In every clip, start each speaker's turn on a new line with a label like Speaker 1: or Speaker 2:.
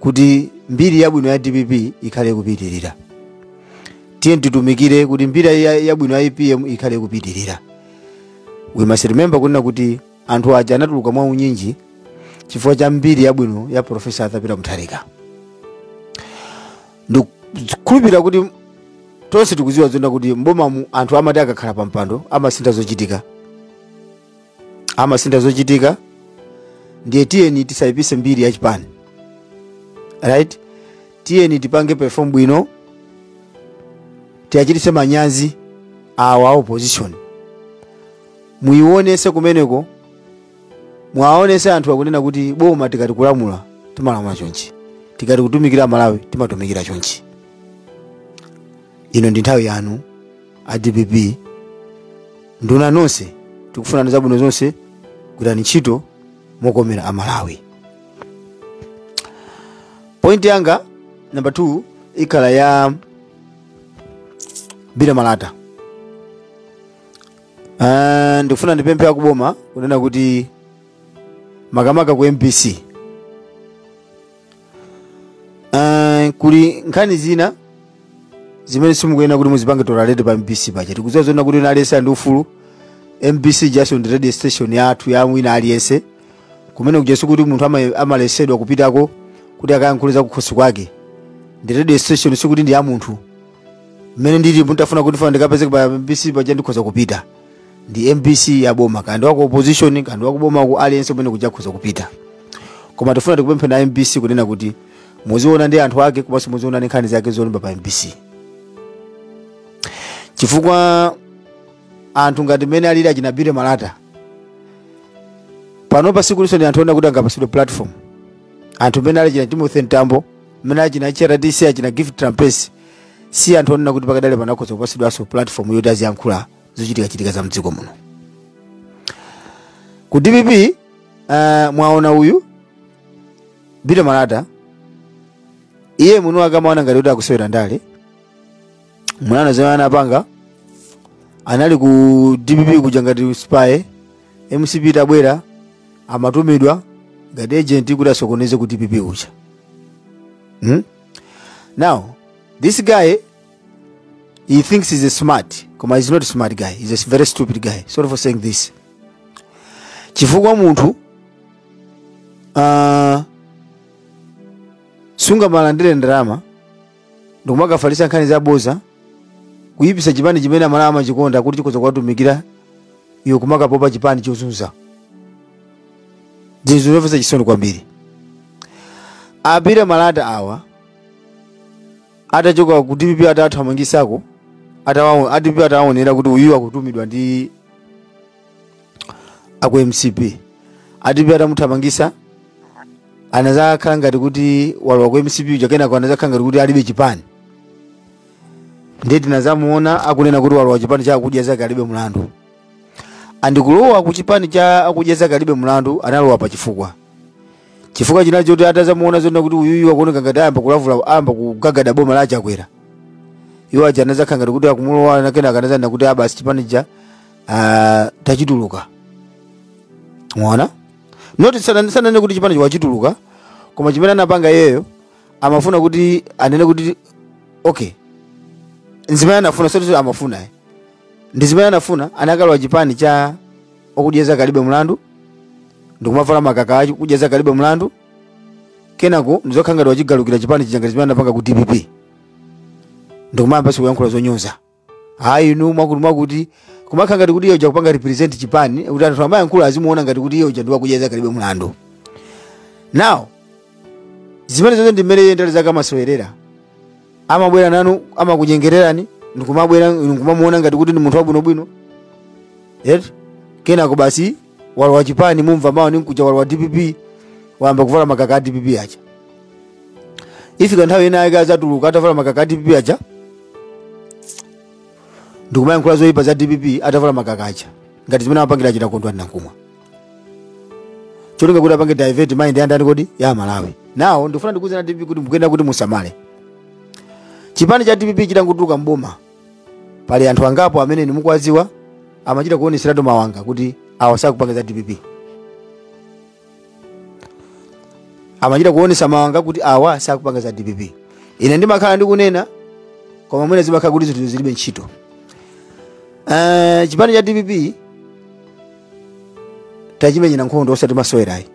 Speaker 1: kuti mbiri yabwino ya dpp ikhale ikupitirira tiye titumikire kuti mbiri ya- yabwino ya apm ikhale ikupitirira we must remember kunena kuti anthu aja anatuluka mwa unyinji chifukwa cha mbiri yabwino ya profesa arthur peter mutharika ndikhulupirira kuti tonse tikuziwa zonena kuti mbomamu anthu amati akakhala pa mpando amasintha zochitika amasintha zochitika ndiye tiyeni tisayipise mbiri ya chipani right tiyeni tipange perform bwino tiyachitise manyazi awa opposition muwaonese kumeneko mwaonese anthuwa kunena kuti boma tikati kulamula timalamula chonchi tikati kutumikira malawi timatumikira chonchi ino ndi nthawi yanu a dpp nduna nonse tikufunirani zabwino zonse gwirani ntchito mokomera amalawi point yanga namba 2 ikhala ya bila malata Ah, ndikufuna ndipemphe akuboma kunena kuti makamaka ku mbc Ah, kuli nkhani zina zimene simukuyenera kuti muzipange tolerate pa mbc paja tikudziwa zonena kuti aliyense ali ndi ufulu mbc yasandukano radio station yathu ya wina aliyense kumene kuja sikuti munthu ama- amalesedwa kupitako kuti akayankhule za kukhosi kwake ndi radio station sikuti ndi ya munthu mmene ndili mutafuna kuti fana ndikapezeke pa mbc paja ndikhoza kupita ndi mbc ya boma kaya ndi wa ku opposition kaya ndi wakuboma aliyense kumene kuja akhoza kupita koma tifuna tikupempheni a mbc kunena kuti muziona ndi anthu ake komanso muziona ndi nkhani zake zolemba pa mbc chifukwa anthu ngati mmene alili achina bila malata pano pa sikutinso ndi anthu onena kuti angapasidwe platform anthu mmene alili achina timothy mtambo mmene alili achina hrdc achina gift trapence si anthu onena kuti pakadali pano akhoza kupatsidwanso platform yoti aziyankhula zochitikachitika za mdziko muno ku dpp uh, mwaona uyu bila malata iye mwini wake amaona ngati kuti akusewera ndale munaona zimene anapanga anali ku dpp kuja ngati spy mcp itabwera amatumidwa ngati agent kuti asokoneze ku dpp kuja hmm? now this guy he thinks he's a smart koma he's not a smart guy he's a very stupid guy sorry for saying this chifukwa munthu uh, sungamalandire ndalama ndikumakafalitsa nkhani zaboza kuyipisa chipani chimene amalawi amachikonda kuti chikhoza kuwatumikira iwe kumakapopa chipani chozunza zinthu zomvetsa chisoni kwambiri a billy malata awa atachoka ku dpp atathamangisako atawawo- a dpp atawaonera kuti uyu akutumidwa ndi aku mcp a dpp atamuthamangisa anazakhala ngati kuti walowa ku mcp uja kenako anazakhala ngati kuti alibe chipani ndiye tinazamuona akunena kuti walowa chipani cha akudya zake alibe mlandu and kulowa ku chipani cha akudya zake alibe mlandu analowa pa chifukwa chifukwa chinali choti atazamuona zona kuti uyuyu akuoneka ngati ayamba kulavula ayamba kugagada boma la chakwera iwo aja anazakhala ngati kuti akumulowa na kenaka anazanena kuti ah basi chipani chija tachituluka mwaona noti sana- sananene kuti chipani chija wachituluka koma chimene anapanga iyeyo amafuna kuti anene kuti okay nzimene anafuna zoti amafuna eh. ndi zimene anafuna anakalowa chipani cha okudya zake alibe mlandu ndikumavala makaka a okudya zake alibe mlandu kenako ndikuzakhala ngati wachigalukira chipani chija ngati zimene anapanga ku dpp ndikumayambanso kuyankhula zonyoza ayi inu mwakuti mwakuti kumakhala ngati kuti iye uja akupanga represent chipani kuti anthu akamayankhula azimuona ngati kuti iye uja ndi wakudya zake alibe mlandu now zimenezo zonse ndi mmene iye ndale zake amasewerera amabwera nanu amakunyengererani ndikumabwera inu nkumamuona ngati kuti ndi munthu wabwinobwino eti kenako basi walowa chipani mumva mawa ndi mkuja walowa dpp wayamba kuvala makaka a dpp aja ifika nthawi ina yake azatuluka atavala makaka a dpp aja ndikumayankhula zoyipa za dpp atavala makaka aja ngati zimene amapangira achina kondwani nankhumwa cholinga kuti apange divert mind ya ndani kodi ya amalawi now ndikufuna ndikuuzeni a dpp kuti mukuyenera kuti musamale chipani cha dpp chitangotuluka mboma pali anthu angapo amene inu mukuwadziwa amachita kuoneseratu mawanga kuti awa sakupanga za dpp amachita kuonesa mawanga kuti awa sakupanga za dpp ine ndimakhala ndikunena koma mwina zimakhala kuti zinthu zilibe ntchito uh, chipani cha dpp tachimenyera nkhondo osati masewera ayi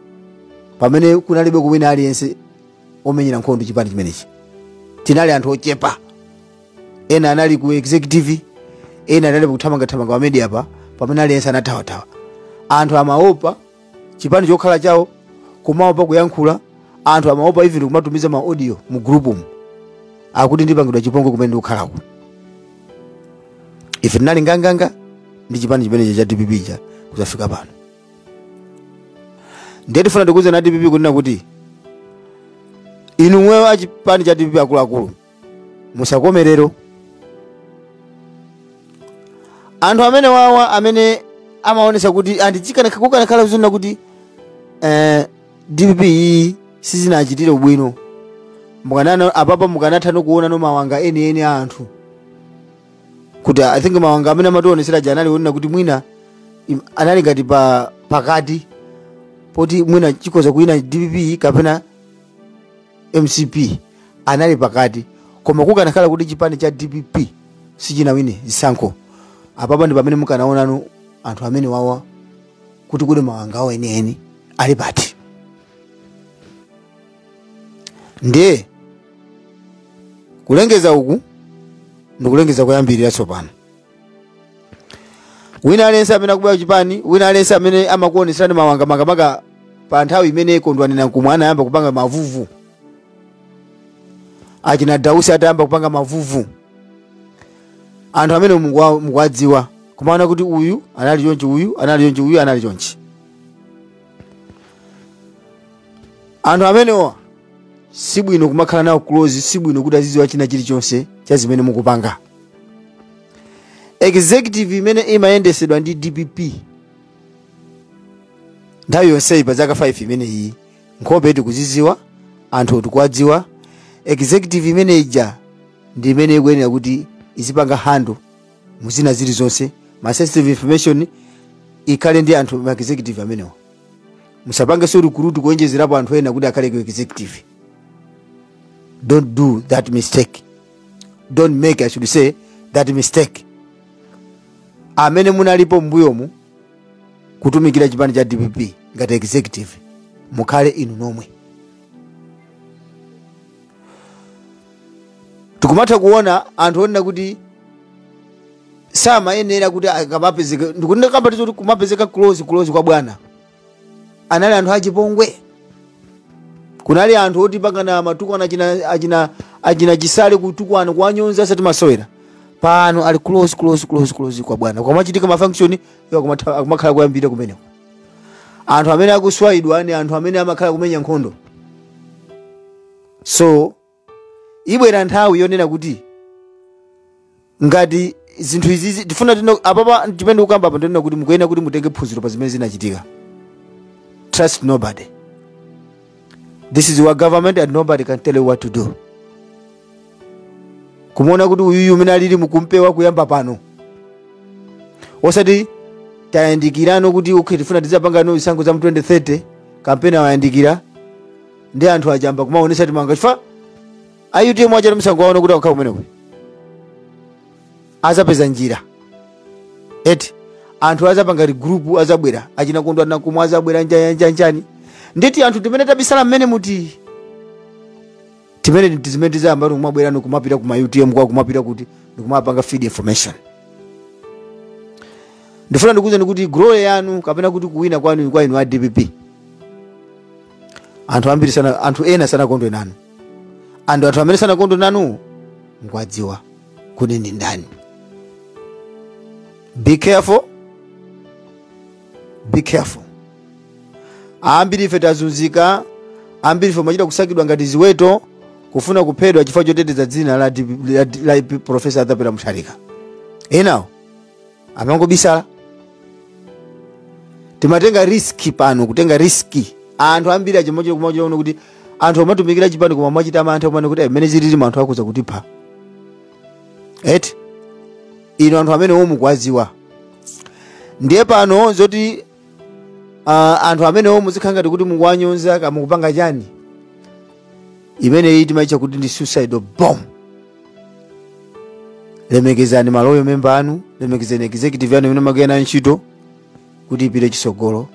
Speaker 1: pamene kunalibeko wina aliyense omenyera nkhondo chipani chimenechi tinali anthu ochepa ena anali ku executive ena anali kuthamangathamanga pa media pa pamene aliyense anathawathawa anthu amaopa chipani chokhala chawo kumaopa kuyankhula anthu amaopa even kumatumiza ma audio mu group mu akuti ndipangidwa chipongwe kumene ndikukhalako ife tinali nganganga ndi chipani chimenecho cha dpp cha kuzafika pano ndiye tifuna tikuuzeni a dpp kunena kuti inu omwewo achipani cha dpp akuluakulu musakome lero anthu amene wawa amene amaonesa kuti ndi chikana- kukanakhala konena kuti eh, dpp iyi sizinachitire ubwino mukanana apapa mukanathano kuonano mawanga enieni a anthu kuti i think mawanga amene amationesera aja anali onena kuti mwina im- anali ngati pa pakati poti mwina chikoza kuina dpp kapena mcp anali pakati koma kukanakhala kuti chipani cha dpp sichinawine zisankho apapa ndi pamene mukanaonano anthu amene wawa kuti kuli mawanga awo enieni ali pati ndiye kulengeza uku ndikulengeza kuyambira tsopano wina aliyense amene akubwera kuchipani wina aliyense amene amakuoneserani mawanga makamaka pa nthawi imene kondwani nankhumwa anayamba kupanga mavuvu achina dausi atayamba kupanga mavuvu anthu amene mukuwa- mukuwadziwa kumaona kuti uyu anali chonchi uyu anali chonchi uyu anali chonchi anthu amenewa sibwino kumakhala nawo close sibwino kuti azidziwa china chilichonse cha zimene mukupanga executive imene imayendesedwa ndi dpp nthawi yonseyi pa zaka 5 imeneyi nkhope tikuziziwa anthu tikuwadziwa executive imene ija ndi imene ikuyenera kuti izipanga handle zina zilizonse ma sensitive information ikhale ndi anthu a executive amenewa musapangeso recruit kuonjezerapo anthu ena kuti akhale ku executive don't do that mistake don't make i should say that mistake amene munalipo mbuyomu kutumikira chipani cha dpp ngati executive mukhale inu nomwe tikumatha kuona anthu onena kuti samayenera kuti akamapezeka ndikukambatu izo kuti kumapezeka close close kwa bwana anali anthu achipongwe kunali anthu oti panga matukwana achina, achina, achina chisale kutukwana kuwanyonza asati masewera pano ali close close close close kwa bwana kukamachitika mafunction iwo akumatha- akumakhala kuyambira kumeneko anthu amene akuiwalidwa ni anthu amene amakhala kumenya nkhondo so ibwera nthawi yonena kuti ngati zinthu izizi tifuna tino apapa chimene ndikukamba apa ndi chonena kuti mukuyenera kuti mutenge phunziro pa zimene zinachitika trust nobody this is your government and nobody can tell you what to do kumuona kuti uyuyu umene alili mukumpewa kuyamba pano osati tayandikirano kuti okay tifuna tizapangano zisankho za mu 2030 kampeni wayandikira ndi anthu achamba kumaonesa timawanga chifukwa a utm achita msanga aona kuti akukhala kumeneko azapeza njira eti anthu azapanga group azabwera achina kondwa nakumwa azabwera njanjanjanjani nditi anthu timene tabisala mmene muti timene tizimene tizayamba tikumabwera nikumapita kuma utm kukumapita kuti nikumapanga feed information ndifuna ndikuuzeni kuti glory yanu kapena kuti kuwina kwanu kwa inu a dpp anthu ambiri sana, anthu ena sanakondwe nanu and anthu amene sanakondwe nanu mukuwadziwa kuti ndi ndani be careful be careful ambiri ife tazunzika ambiri ife timachita kusakidwa ngati ziweto kufuna kuphedwa chifukwa choteteza dzina la, D- la, D- la profesa Arthur Peter mutharika enawo amangobisala timatenga riski pano kutenga riski anthu ambiri achimochera kumaochera kuno kuti anthu amatumikira chipani koma amachita mantha kumanena kuti mmene zililimu anthu akuza kutipha eti ino anthu amenewo mukuwadziwa ndiye pano zoti uh, anthu amenewo muzikhala ngati kuti mukuwanyoza kaya mukupanga chani imeneyi timaitcha kuti ndi suicide bomb lemekezani ma loyal member anu lemekezani executive yanu imene magwira nayo ntchito kuti ipite chisogolo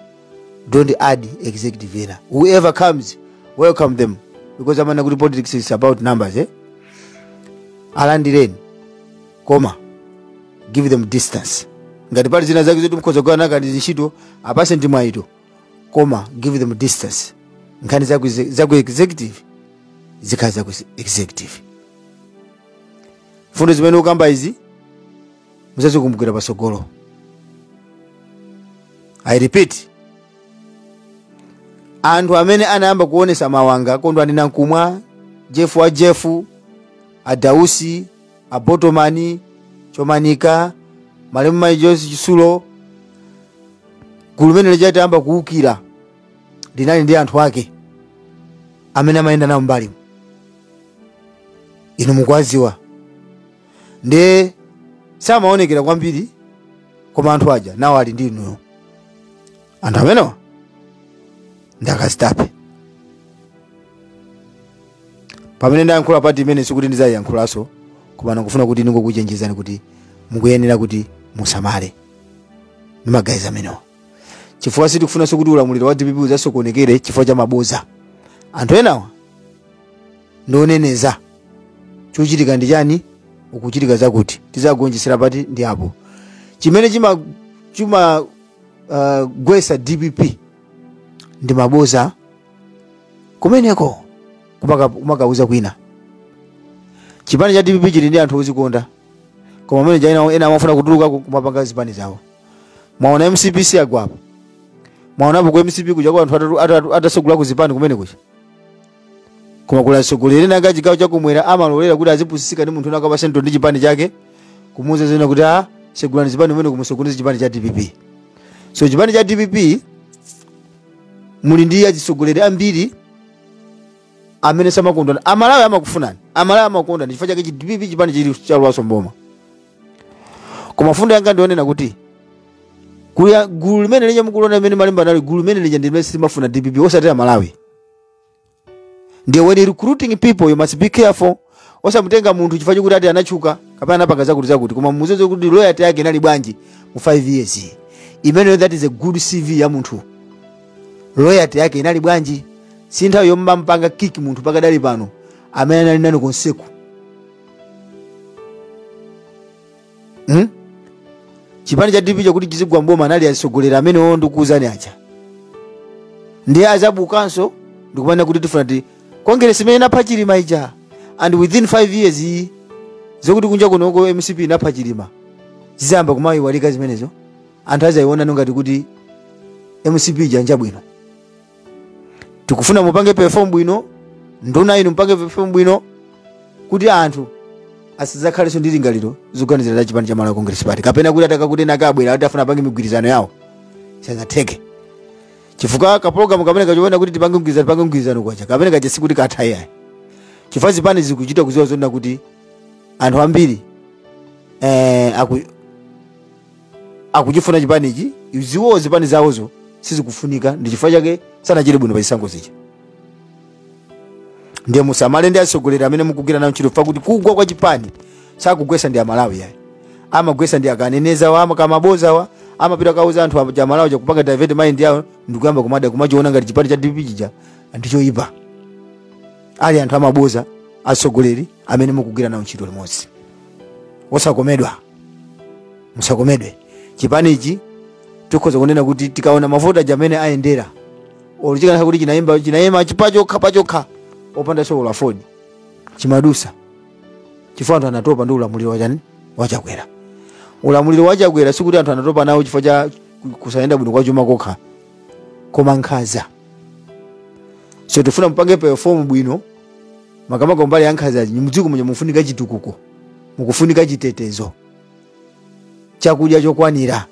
Speaker 1: don't add executive ina whoever comes welcome them because amanena kuti politics is about numbers eh? alandireni koma give them distance ngati pali zina zake zoti mukhoza kugwira nawo kantchito apatseni mwayiwo koma give them distance nkhani za ku exe- za ku executive zikhale za ku executive mfundo zimene ndikukamba izi muzazikumbukira pasogolo i repeat anthu amene anayamba kuonesa mawanga kondwani nankhumwa jeff wa jeff a dausi a botomani chomanika malemu mayi joyce chisulo gulu limene lija litayamba kuwukira linali ndi anthu ake amene amayenda nawo mbali inu mukuwaziwa nde samaonekera kwambiri koma anthu aja nawo ali ndi inuyo anthu amenewa ndi akazitape pamene ndayankhula part imeneyi sikuti ndizayiyankhulanso koma ndikufuna kuti ndingokuchenjezani kuti mukuyenera kuti musamale ndi ma guys amenewa chifukwa sitikufunanso kuti ulamuliro wa dpp uzasokonekere chifukwa cha maboza anthu enawa ndi oneneza chochitika ndi chani kukuchitika zakuti tizagonjesera pati ndi apo chimene chima chima uh, gwesa dpp ndi maboza kumeneko kumaka- kumakauza kwina chipani cha dpp chili ndi anthu ozikonda koma amene ena amafuna kutuluka ku- kumapanga zipani zawo mwaona mcp si yagwapo mwaonapo ku mcp kuja kwa anthu atatu- atatu- atasegula ku zipani kumene kuja koma kuli atsogoleri ena anga chigawo chakumwera amalolera kuti azipusisika ndi munthu winawake pa centre ndi chipani chake kumuuza zonena kuti a segulani zipani umene kumusokoneza chipani cha dpp so chipani cha dpp muli ndi atsogoleri ambiri amene samakondana amalawi amakufunani amalawi amakondani chifukwa chake chi dpp chipani chili chalowaso mboma koma fundo yanga ndionena kuti kuya gulu limene lija mukulona limene malemba nali gulu limene lija ndi limene silimafuna dpp osati amalawi ndiye when recruiting people you must be careful osamutenga munthu chifukwa chokuti ati anatchuka kapena anapanga zakuti zakuti koma muziziwa kuti loyalty yake inali bwanji mu 5 years imeneyo that is a good cv ya munthu loyalty yake inali bwanji si nthawi yomampanga kick munthu pakadali pano amene anali nanu konseku hmm? chipani cha dpp chakuti chizigwa mboma anali atsogoleri amenewo ndikuuzani aja ndiye azabukanso ndikumanena kuti tifuna ti kongeresi imene inapha chilima ija and within 5 years iyi zokuti kunja kunoko mcp inapha chilima zizayamba kumayiwalika zimenezo anthu azayionano ngati kuti mcp ija njabwino tikufuna mupange perform bwino nduna inu mupange perform bwino kuti anthu asizakhalenso ndi lingaliro zoganizira za chipani cha malawi congress party kapena kuti atakakutena kabwera kuti afuna apange migwirizano yawo isazatheke chifukwa kapologalamu kamene kaja konena kuti tipange mgwirizano tipange mgwirizano kwacha kamene kaja sikuti katha iyayi chifukwa zipani zikuchita kuziwa zonena kuti anthu ambiri eh, aku, akuchifuna chipanichi iziwo zipani zawozo sizikufunika ndi chifukwa chake sanachite bwino pa chisankho zija ndiye musamale ndi atsogoleri amene mukugwira nawo ntchito pakuti kugwa kwa chipani sakugwesa ndi amalawi ayi amagwesa ndi akanenezawa amakamabozawa amapita kauza anthu aja amalawi aja kupanga divert mind yawo ndikuyamba kumada kumachiona ngati chipani cha dpp chija ndichoyipa ali anthu amaboza atsogoleri amene mukugwira nawo ntchito limodzi osakomedwa musakomedwe chipanichi tikhoza kunena kuti tikaona mavoti aja mmene ayendera olo chikanakhala kuti chinayima chinayima pachokha pachokha opandaso olo aford chimadusa chifukwa anthu anatopa ndi ulamuliro wa chani wa chakwera ulamuliro wa chakwera sikuti anthu anatopa nawo chifukwa cha ku- kusayenda bwino kwa chuma kokha koma nkhaza so tifuna mupange perform bwino makamaka mbali ya nkhazazi mdziko muja mufunika chitukuko mukufunika chitetezo chakudya chokwanira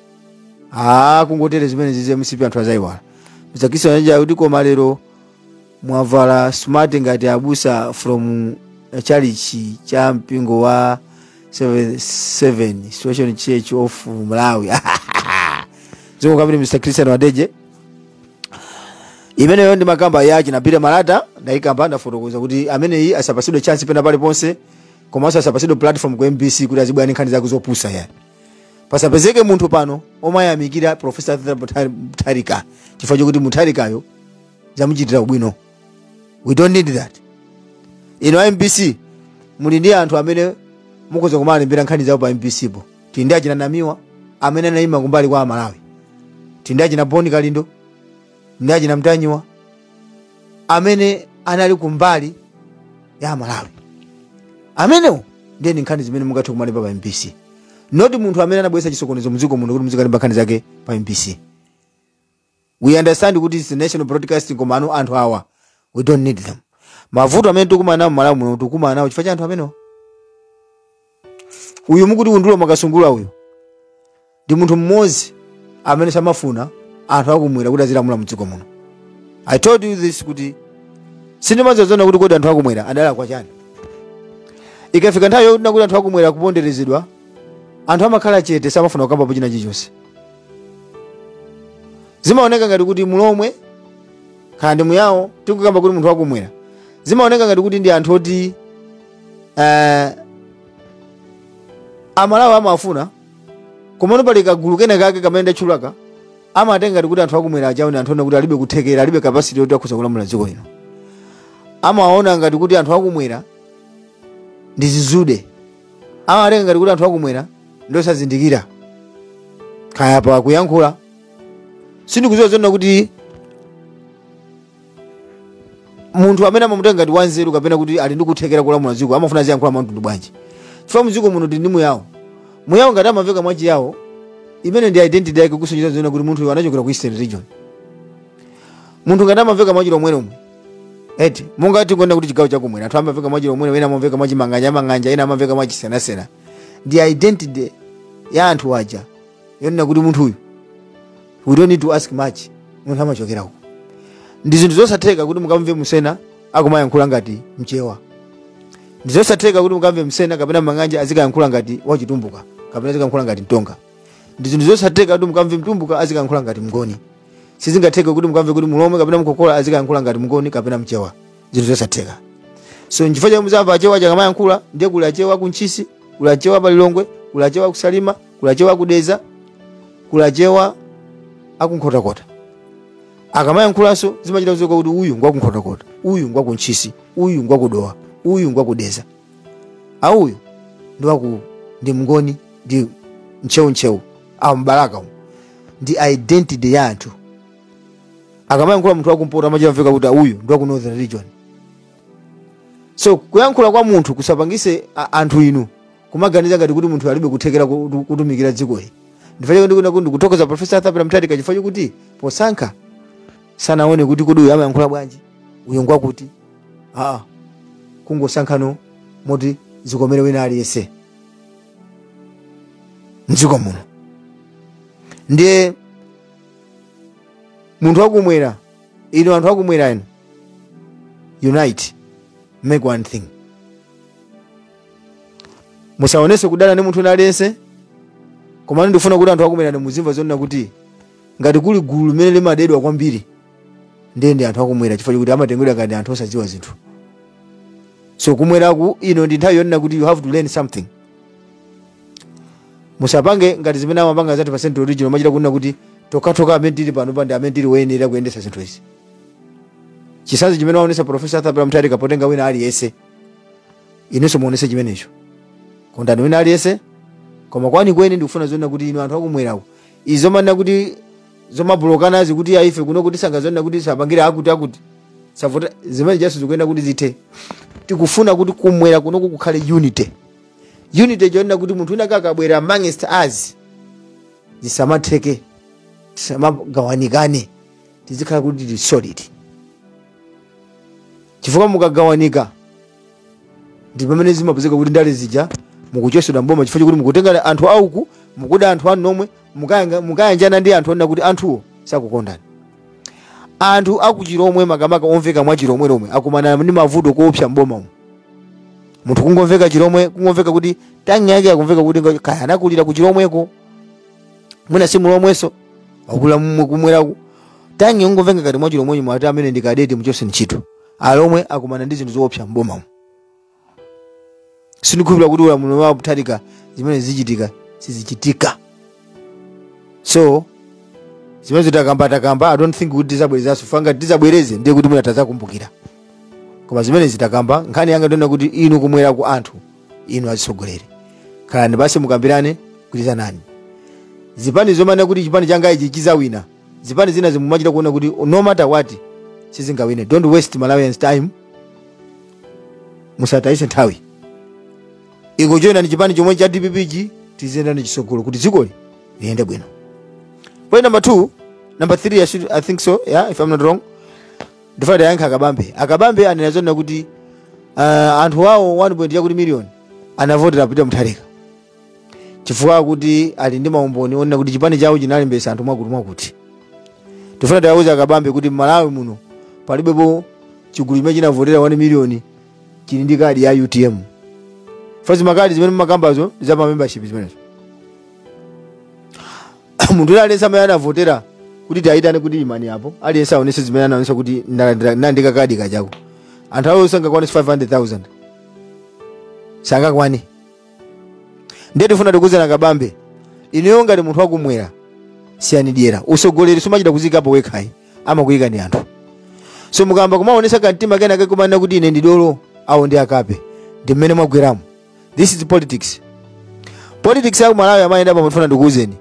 Speaker 1: a kungotere zimenezizi mcp anthu azayiwala mr kisa anaja akuti koma lero mwavala smart ngati abusa from chalichi cha mpingo wa 7 situation church of malawi zikomo kwambiri mr christian wadeje imeneyo ndi nkhani ya achina peter malata ndayikamba ndafotokoza kuti ameneyi asapasidwe chance pena paliponse komanso asapatsidwe platform ku mbc kuti azibwera ndi nkhani zake zopusa ayi pasapezeke munthu pano omayamikira profesa Arthur Muthari- mutharika chifukwa chokuti mutharikayo zamuchitira ubwino we don't need that inu a mbc muli ndi anthu amene mukhoza kumalembera nkhani zawo pa mbc po tili ndi achina namiwa amene anayima kumbali ya amalawi tili ndi achina boni kalindo ndi achina mtanyiwa amene anali kumbali ya amalawi amenewo ndiye nkhani zimene mungathe kumalemba pa mbc not munthu amene anabweretsa chisokonezo mdziko muno kuti muzikalemba nkhani zake pa mbc we understand kuti it's national broadcasting komano anthu awa we don't need them mavuto amene tikukumana nawo mmalawi muno tikukumana nawo chifukwa cha anthu amenewo uyu mukuti undule mwakasungula uyu ndi munthu mmodzi amene samafuna anthu akumwera kuti azilamula mdziko muno i told you this kuti sindimadziwa zoona kuti kodi anthu akumwera adalakwa chani ikafika nthawi yokuti nakuti anthu akumwera kuponderezedwa anthu amakhala chete samafuna kukambapo china chilichonse zimaoneka ngati kuti mulomwe kaya ndi muyawo tikukamba kuti munthu wakumwera zimaoneka ngati kuti ndi anthu oti eh, amalawi amafuna komano pali kagulu kena kake kamene ndatchulaka amatenga ngati kuti anthu akumwera ajawo ndi anthu onena kuti alibe kuthekera alibe capacity yoti akhoza kulamula dziko lino amaona ngati kuti anthu akumwera ndi zizude amatenga ngati kuti anthu akumwera ndosazindikira kaya pa kuyankhula sindikuziwa zoona kuti munthu amene amamutenga ngati wanzeru kapena kuti ali ndi kuthekera kulamula dziko amafuna aziyankhula mwamtundu bwanji chifukwa mdziko muno ndi ndi muyawo muyawo ngati amamveka mwachiyawo imene ndi identity yake kusonyeza zoona kuti munthu uyu anachokera ku eastern region munthu ngati amamveka mwachilomwelomwe eti monga tikunena kuti chigawo chakumwera anthu amamveka mwachilomwelomwe ena amamveka mwachimang'anjamang'anja ena amamveka mwachisenasena ndi identity ya anthu aja yonena kuti munthuyu we don't need to ask much munthu amachokera uko ndi zinthu zosatheka kuti mukamve msena akumayankhula ngati mchewa ndi zosatheka kuti mukamve msena kapena mang'anja azikayankhula ngati wachitumbuka kapena azikayankhula ngati mtonga ndi zinthu zosatheka kuti mukamve mtumbuka azikayankhula ngati mngoni sizingatheke kuti mukamve kuti mulomwe kapena mkokola azikayankhula ngati mngoni kapena mchewa zinthu zosatheka so nchifukwa chomwe muzamva achewa akamayankhula ndiye kuli achewa kuntchisi kuli achewa palilongwe kuli achewa kusalima kuli achewa akudedza kuli achewa akunkhotakota akamayankhulanso zimachita kudziwika kuti uyu ngwakunkhotakota uyu ngwakuntchisi uyu ngwakudowa uyu ngwakudedza auyu ndiwaku ndi mngoni ndi ntcheuntcheu awo mbalaka umu ndi identity ya anthu akamayankhula munthu wakumpoto amachita mveka kuti uyu ndi waku northern region so kuyankhula kwa munthu kusapangise a- anthu inu kumaganiza ngati kuti munthu alibe kuthekera kutu- kutumikira dzikoli nchifukwa chake ndikuti ndikuthokoza profesa arthur peter mutharika chifukwa chakuti posankha sanaone kuti kodi uyu amayankhula bwanji uyu ngwakuti aa kungosankhano moti zikomere wina aliyense mdziko muno ndiye munthu wakumwera inu anthu akumwera inu unite make one thing musaonetse kudana ndi munthu aliyense komano ndifuna kuti anthu akumwera muzimva zonena kuti ngati kuli gulu limene limadedwa kwambiri ndiye ndi anthu akumwera chifukwa chakuti amatengedwa ngati anthu osadziwa zinthu so kumweraku ino ndi nthawi yonena kuti you have to learn something musapange ngati zimene amapanga zaty percent original machita kunena kuti tokatoka amene tili pano pa ndi amene tili woyenera kuyendetsa zinthu izi chitsanzo chimene waonetsa profesa arthur peter mutharika potenga wina aliyense inunso muonetse chimenecho kondani wina aliyense koma kwanikweni ndikufuna zonena kuti inu anthu akumwerako izi zomanena kuti zomablokanazi kuti aife kuno kuti sangazonena kuti sapangire akuti akuti savota zimene zijaso zikuyenera kuti zithe tikufuna kuti kumwera kunoko kukhale unity unity yonena kuti munthu wina akabwera amongst us zisamatheke tisamagawanikane tizikhala kuti tili solid chifukwa mukagawanika ndi pamene zimapezeka kuti ndale zija mukuchotsedwa mboma chifukwa chakuti mukutenga anthu auku mukuda anthu anu nomwe mukayanga- mukayanjana ndi anthu onena kuti anthuwo sakukondani anthu akuchilomwe makamaka omveka mwa chilomwe lomwe akumana ndi mavuto oopsa mboma umu munthu kungomveka chilomwe kungomveka kuti tongue yake akumveka kuti ngo- kaya anakulira ku chilomweko mwina si mulomwenso wakula mumwe kumweraku tongue kungomveka ngati mwachilomwe ndiye mwati amene ndi kadeti muchose ntchito alomwe akumana ndi zinthu zoopsa m'bomamo sindikhulupira kuti ulamuliro wa mutharika zimene zichitika sizichitika so zimene zitakamba takamba i don't think kuti tizabwerezanso chifukwa ngati tizabwereze ndiye kuti mwina tazakumbukira koma zimene zitakamba nkhani yanga ndiona kuti inu kumwera ku anthu inu azitsogoleri khalani pansi mukambirane gwirizanani zipani zomanena kuti chipani changa ichi chizawina zipani zina zimumachita kuona kuti no matter what sizingawine don't waste malawians time musatayise nthawi ingojoyinani chipani chomwe cha dpp chi tiziyendani chisogolo kuti dzikoli liyende bwino point number two number three I, should, i think so yeah if i'm not wrong ndifuna tiwayankhe akabambe akabambe anena zonena kuti uh, anthu awo 1 point yakuti miliyoni anavotera peter mutharika chifukwa akuti ali ndi maumboni onena kuti chipani chawo chinalembesa anthu mwakuti mwakuti tifuna tiwauze akabambe kuti mmalawi muno palibepo chigulu chimene chinavotera 1 miliyoni chili ndi kadi ya utm chifukwa zimakadi zimene mumakambazo za pa membership zimenezo munthu wina aliyense amene anavotera kuti tiwayitane kuti imani apo aliyense aonese zimene anaonesa kuti ndalandira- ndandika kadi kachako anthu awo sangakwanise 500000 sangakwane ndiye tifuna tikuuzeni akabambe ineyo ngati munthu wakumwera siyani dyera usogoleri sumachita kuzikapo wekha ayi amakuyika ni anthu so mukamba kumaonesa kamtima kenake kumanena kuti ine ndidolo awo ndi akape ndi mmene mwagweramo this is politics politics ya kumalawi amayenda pa mafuna ndikuuzeni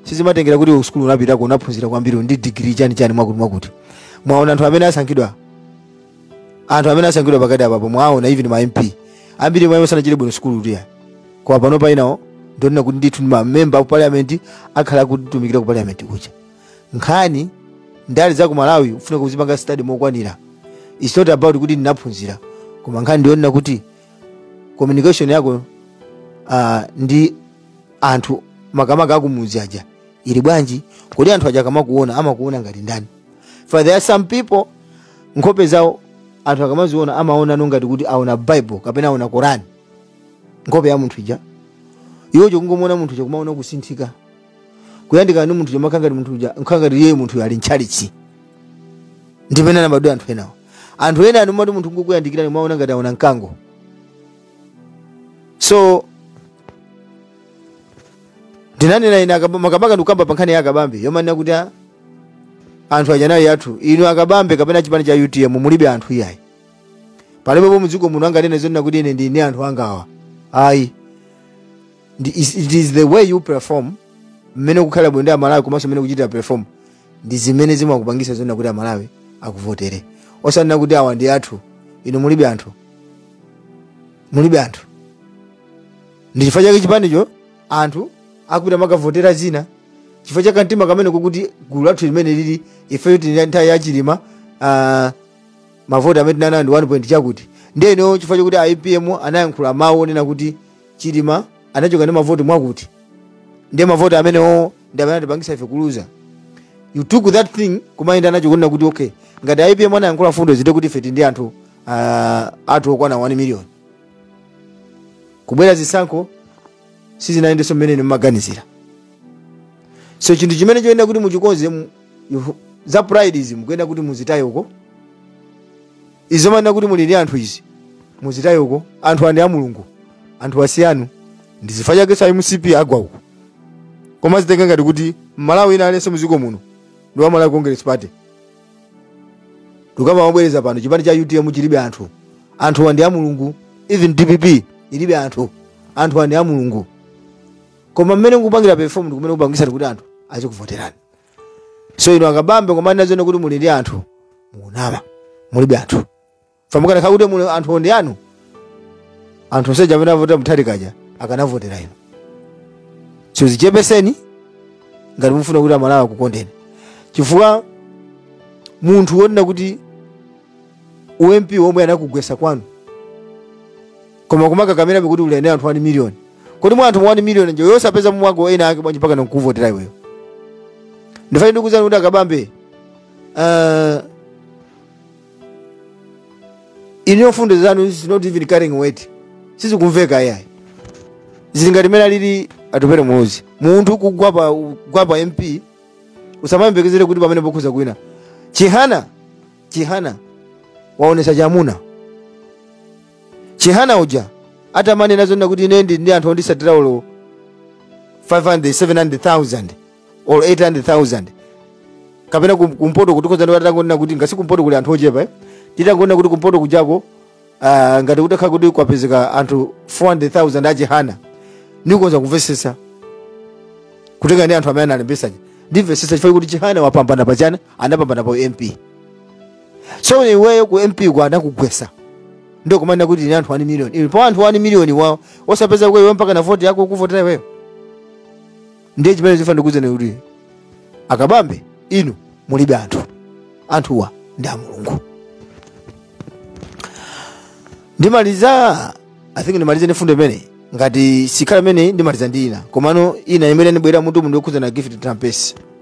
Speaker 1: sizimatengera kuti kusukulu unapitako unaphunzira kwambiri ndi digiri chani chani mwakuti mwakuti mwaona anthu amene asankhidwa anthu amene asankhidwa pakati apapo mwaona even ma mp ambiri mwa iwo sanachite bwino sukulu tiya kwa pano painawo ndonena kuti ndithu ndi mamemba aku parliament akhala akutumikira ku parliament kuja nkhani ndale za ku malawi ufuna kuzipanga study mokwanira its not about kuti ndinaphunzira koma nkhani ndiyonena kuti communication yako uh, ndi anthu makamaka akumudzi aja ili bwanji kodi anthu aja akamakuona amakuona ngati ndani for there are some people nkhope zawo anthu akamaziona amaona no ngati kuti aona bible kapena aona korani nkhope ya munthu ija iwo chokungomuona munthu chakumaona kusinthika kuyandikana ndi munthu chomakhala ngati munthu uja nkhala ngati iye munthu ali ntchalichi ndi pena mabadwidwe anthu enawo anthu ena anomati munthu ngokuyandikirani mwaona ngati aona mkango so ndinanena ine akaba- makamaka ndikukamba pa nkhani ya akabambe yomanena kuti a- anthu aja ndi athu inu akabambe kapena chipani cha utm mulibe anthu iyayi palibepo mudziko muno anganene zonena kuti ine ndili ndi anthu angawa ayi Ndi- is- it is the way you perform mmene kukhala bwino ndi amalawi komanso mmene kuchitira perform ndi zimene zimakupangisa zonena kuti amalawi akuvotere osanena kuti awa ndi athu inu mulibe anthu mulibe anthu ndi chifukwa chake chipanicho anthu akupita kumakavotera zina chifukwa cha kamtima kamene kakuti gulu lathu limene lili ifeyo tili nthawi ya chilima uh, mavoti amene tinali nawo ndi 1 point chakuti ndiyeno chifukwa chakuti a apm anayankhula mawu onena kuti chilima anachoka ndi mavoti mwakuti ndiye mavoti amenewo ndi amene atipangisa ife kuluza you took that thing kumayenda nacho kunena kuti okay ngati a apm anayankhula fundo zoti kuti ife tili ndi anthu ah, athu okwana 1 million kubwera zisankho sizinayendenso mmene inu mumaganizira so chinthu chimene choyenera kuti muchikonze mu- you- za pride izi mukuyenera kuti muzitaye uko izi zomanena kuti muli ndi anthu izi muzitaye uko anthuwa ndi a mulungu anthuwa si anu ndi chifukwa chake a mcp agwa uko kumazitenga ngati kuti mmalawi wina aliyense muziko muno ndi wa malawi congress party ndikukamba mobwereza pano chipani cha utm chilibe anthu anthuwa ndi a mulungu even dpp ilibe anthu anthuwa ndi a mulungu koma mmene mukupangira perform ndi kumene kupangisani kuti anthu azikuvoterani so inu akabambe kumanena zonena kuti muli ndi anthu mukunama mulibe anthu chifukwa mukanakhala kuti muli ndi anthu oti ndi anu anthu onse aja amene avota mutharika aja akanavotera inu so zichepeseni ngati mufuna kuti amalawi akukondeni chifukwa munthu wonena kuti ump womwe anakugwesa kwanu koma kumakakamirabe kuti uli ndi anthu 1 million kodi mwa anthu 1 million ndiye osapeza mumwago ena ake bwanji mpaka nkukuvotera iweyo ndifuna ndikuuzeni kuti akabambe uh, inuyo fundo zanu is not even carrying weight sizikumveka ayayi zili ngati mene alili atupere muluzi munthu kugwa pa kugwa pa mp usamayembekezere kuti pamenepo ukhoza kuwina chihana chihana waonesa chamuna chihana uja atamanena zonena kuti ine ndili ndi anthu ondisatira olo 500 700000 or 800000 kapena kum- kumpoto kutikhoza ndi atangonena kuti ngati kumpoto kuli anthu ochepa eh? titangonena kuti kumpoto kujako uh, ngati kutakhala kuti kwapezeka anthu 400000 achihana ndikhoza kumvesesa kutengera ndi anthu amene analembesa aja ndimvesesa chifukwa kuti chihana wapambana pachana anapambana pa mp so iweyo ku mp ku anakugwesa ndio kumana kuti ni anthu 1 million ili pa anthu 1 million wao osapeza kwa iwe mpaka na vote yako kuvotera wewe ndiye chimene ndifuna ndikuuze ni kuti akabambe inu mulibe anthu anthuwa ndi a mulungu ndimaliza i think ndimalize ndi fundo imene ngati sikhala imene ndimaliza ndi ina komano ina imene ndibwera mutu mundu yokhuzana Gift Trapence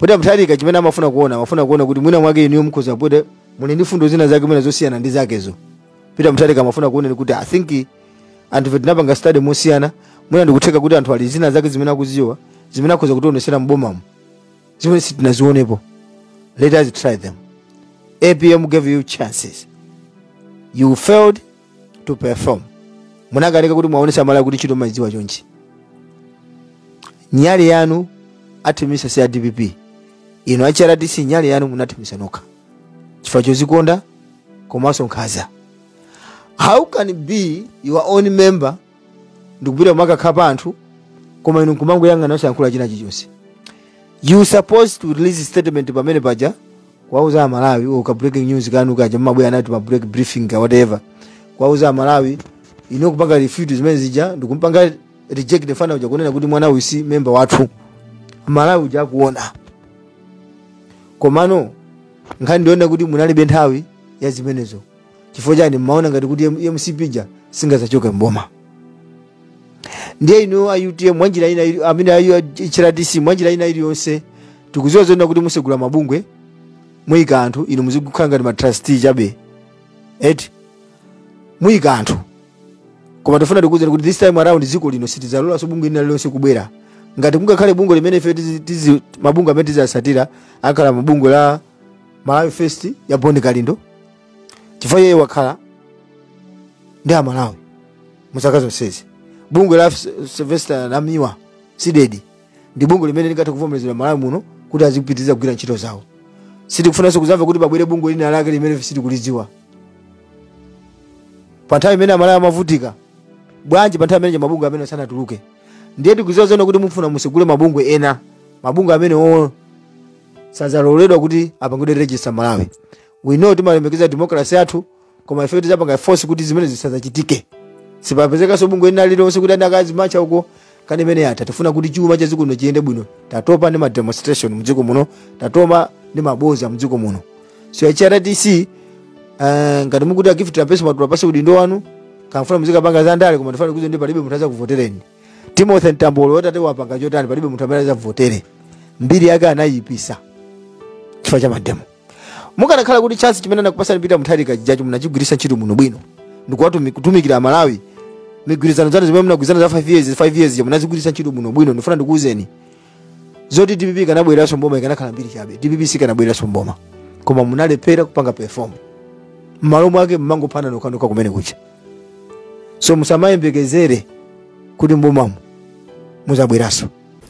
Speaker 1: Peter Mutharika chimene amafuna kuona amafuna kuona kuti mwina mwake inuyo mukhoza pokuti muli ndi fundo zina zake mwina zosiyana ndi zakezo Peter Mutharika amafuna kuona kuti I think anthu ife tinapanga study mosiyana mwina ndikutheka kuti anthu ali zina zake zimene akuziwa zimene akhoza kutionesera m'bomamo zimene sitinazionepo let us try them apm gave you chances you failed to perform munakanika kuti muwaonetse amalawi kuti ntchito mmaidziwa chonchi nyali yanu athimisa si a dpp inu a hrdc nyali yanu munathimisa nokha chifukwa chozikonda komanso nkhaza how can it be your own member ndikupita kumakakhala pa anthu koma inu nkumangoyang'ana osayankhula china chilichonse you supposed to release statement pamene paja kuwauza amalawi or ka breaking news kanu kaja mmabwera anati ma break briefing ka whatever kuwauza amalawi inu kupanga refute zimene zija ndikumpanga reject the fana uja kunena kuti mwana uyu si memba wathu malawi uja akuona komano nkhani ndiyonena kuti munalibe nthawi ya zimenezo chifukwa chani mmaona ngati kuti M- mcp ija singazachoke mboma ndiye inu a utm mwanjira ina ili- amene a hrdc mwanjira ina iliyonse tikuziwa zoona kuti musegula mabungwe muyika anthu inu muzikukhala ngati matrustee chabe eti muyika anthu koma tifuna tikuuzeni kuti this time around dziko lino sitidzalolanso bungwe lina lilonse kubwera ngati kungakhale bungwe limene ife tizi- tizi- mabungwe amene tizatsatira akhala mabungwe la malawi first ya bon kalindo chifukwa iye wakhala ndi amalawi mu zaka zonsezi bungwe la sylvester namiwa cdedi ndi bungwe limene lingathe kuvomerezedwa malawi muno kuti azipitiriza kugwira ntchito zawo sitikufunanso kuzamva kuti pabwere bungwe lina lake limene sitikulidziwa pa nthawi imene amalawi amavutika bwanji pa nthawi imene mabungwe amene sanatuluke ndiye tikuziwa zoona kuti mufuna musegule mabungwe ena mabungwe amene oo sadzaloledwa kuti apangidwe register malawi we know timalemekeza democracy yathu koma ife tizapanga force kuti zimene zisazachitike sipazapezekanso bungwe lina lililonse kuti azikazimacha uko nkhani imeneyo yatha tikufuna kuti chuma cha dziko lino chiyende bwino tatopa ndi mademonstration mdziko muno tatopa ndi maboza mdziko muno so hrdc uh, ngati mukuti a gift trapence mwatula pansi udindo wanu kaya mukufuna muzikapanga za ndale koma tifuna tikuwuzeni palibe munthu azakuvotereni timothy mtambo lero watate wapanga chotani palibe munthu amene azakuvotere mbiri yake anayipisa chifukwa cha mademo mukanakhala kuti chance chimene anakupasani peter mutharika chija munachigwiritsa ntchito munobwino ndikuwatumi- kutumikira amalawi migwirizano zanu zimene munagwirizana za 5 years 5 years ja munazigwiritsa ntchito munobwino ndifuna ndikuwuzeni zoti dpp sikanabwereranso mboma ikanakhala mbiri chabe dpp sikanabwereranso mboma koma munalephera kupanga perform mmalo mwake mmangophana nokhanokha kumene kucha so musamayembekezere kuti mbomamo muzabweranso